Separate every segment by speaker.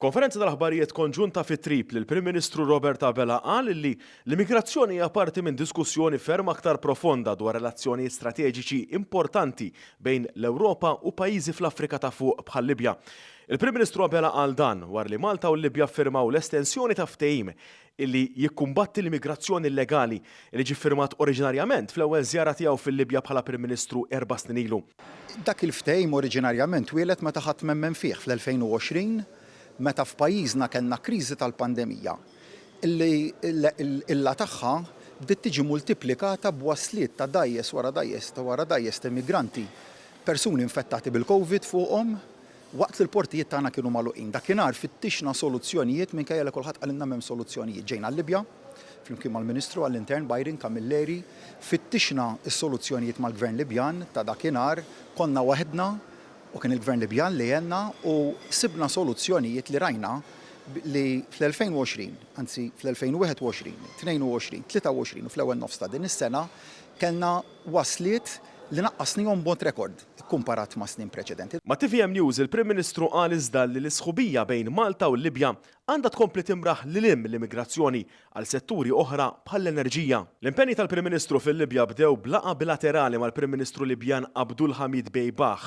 Speaker 1: F'konferenza tal-aħbarijiet konġunta fi Tripli, l-Prim Ministru Robert Abela qal li l-immigrazzjoni hija parti minn diskussjoni ferm aktar profonda dwar relazzjonijiet strateġiċi importanti bejn l-Ewropa u pajjiżi fl-Afrika ta' Fuq bħal-Libja. Il-Prim Ministru Abela qal dan wara li Malta u l-Libja ffirmaw l-estensjoni ta' ftehim li jikkumbatti l-immigrazzjoni illegali, li ġie ffirmat oriġinarjament fl-ewwel żjara tiegħu fil-Libja bħala Prim Ministru erba' snin ilu. Dak il-ftehim
Speaker 2: oriġinarjament twieled meta ħadd m'emmen fih fl-2020 meta f'pajjiżna kellna kriżi tal-pandemija li l-qilla tagħha bdiet tiġi multiplikata b'wasliet ta' dgħajjes wara dgħajjes wara dgħajjes ta' immigranti, persuni infettati bil-Covid fuqhom, Waqt li l-portijiet tagħna kienu magħluqin dakinhar fittixna soluzzjonijiet minkejja li kulħadd qalilna m'hemm soluzzjonijiet. Ġejna l-Libja, flimkien mal-Ministru għall-Intern Byron Camilleri, fittixna s-soluzzjonijiet mal-Gvern Libjan ta' dakinhar, konna waħedna u kien il-Gvern Libjan li għenna u sibna soluzzjonijiet li rajna li fl-2020, anzi fl-2021, 22, 23 u fl-ewwel nofs ta' din is-sena kellna wasliet li naqqasnihom b'mod rekord ikkumparat ma' snin preċedenti. Ma' tvm News, il-Prim
Speaker 1: Ministru qal iżda li l-isħubija bejn Malta u l-Libja għandha tkompli timraħ lil hinn mill-immigrazzjoni għal setturi oħra bħall-enerġija. L-impenji tal-Prim Ministru fil-Libja bdew b'laqgħa bilaterali mal-Prim Ministru Libjan Abdulhamid Dbeibah.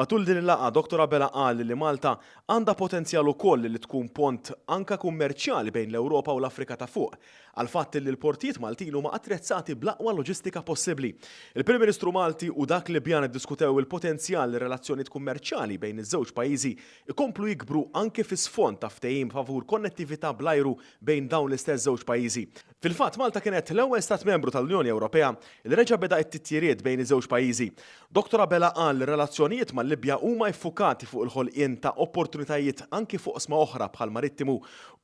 Speaker 1: Matul din il-laqgħa, Dottor Abela qal li Malta għandha potenzjal ukoll li tkun pont anke kummerċjali bejn l-Ewropa u l-Afrika ta' Fuq. għall-fatt li l-portijiet Maltin huma attrezzati bl-aqwa loġistika possibbli. Il-Prim Ministru Malti u dak Libjan iddiskutew il-potenzjal li r-relazzjonijiet kummerċjali bejn iż-żewġ pajjiżi jkomplu jikbru anki fi sfond ta' ftehim favur konnettività bl-ajru bejn dawn l-istess żewġ pajjiżi. Fil-fatt, Malta kienet l-ewwel Stat Membru tal-Unjoni Ewropea li reġa' beda t-titjiriet bejn iż-żewġ pajjiżi. Dottor Abela qal li r-relazzjonijiet mal-Libja huma iffukati fuq il-ħolqien ta' opportunitajiet anki f'oqsma oħra bħall-marittimu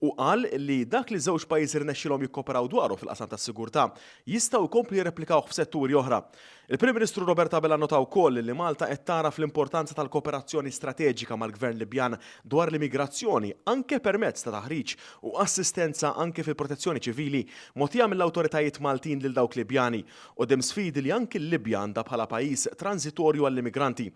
Speaker 1: u qal li dak li ż-żewġ pajjiżi rnexxielhom jikkooperaw dwaru fil-qasam tas-sigurtà jistgħu jkomplu jirreplikawh f'setturi oħra. Il-Prim Ministru Robert Abela nnota wkoll li Malta qed tagħraf l-importanza tal-kooperazzjoni strateġika mal-Gvern Libjan dwar l-immigrazzjoni anke permezz ta' taħriġ u assistenza anke fil-protezzjoni ċivili mogħtija mill-awtoritajiet Maltin lil dawk Libjani Quddiem sfidi li anki l-Libja għandha bħala pajjiż tranżitorju għall-immigranti.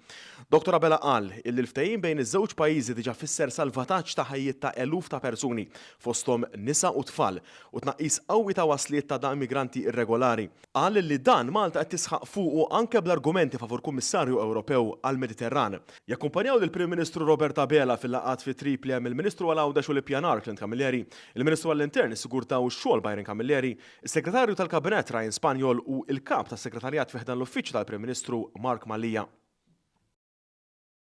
Speaker 1: Dottor Abela qal illi l-ftehim bejn iż-żewġ pajjiżi diġà fisser salvataġġ ta' ħajjiet ta' eluf ta' persuni, fosthom nisa u tfal, u tnaqqis qawwi ta' wasliet ta' da immigranti irregolari. Qal illi dan Malta qed tisħaq fuqu anke bl-argumenti favur Kummissarju Ewropew għall-Mediterran. Jakkumpanjaw lill-Prim Ministru Robert Abela fil-laqgħat fi Tripli hemm il-Ministru għal Għawdex u l-Ippjanar Clint Camilleri, il-Ministru għall-Intern, is-Sigurtà u x-Xogħol Byron Camilleri, Is-Segretarju tal-Kabinett Ryan Spaniol hu l-Kap tas-Segretarjat fi ħdan l-Uffiċċju tal-Prim Ministru Mark Mallia.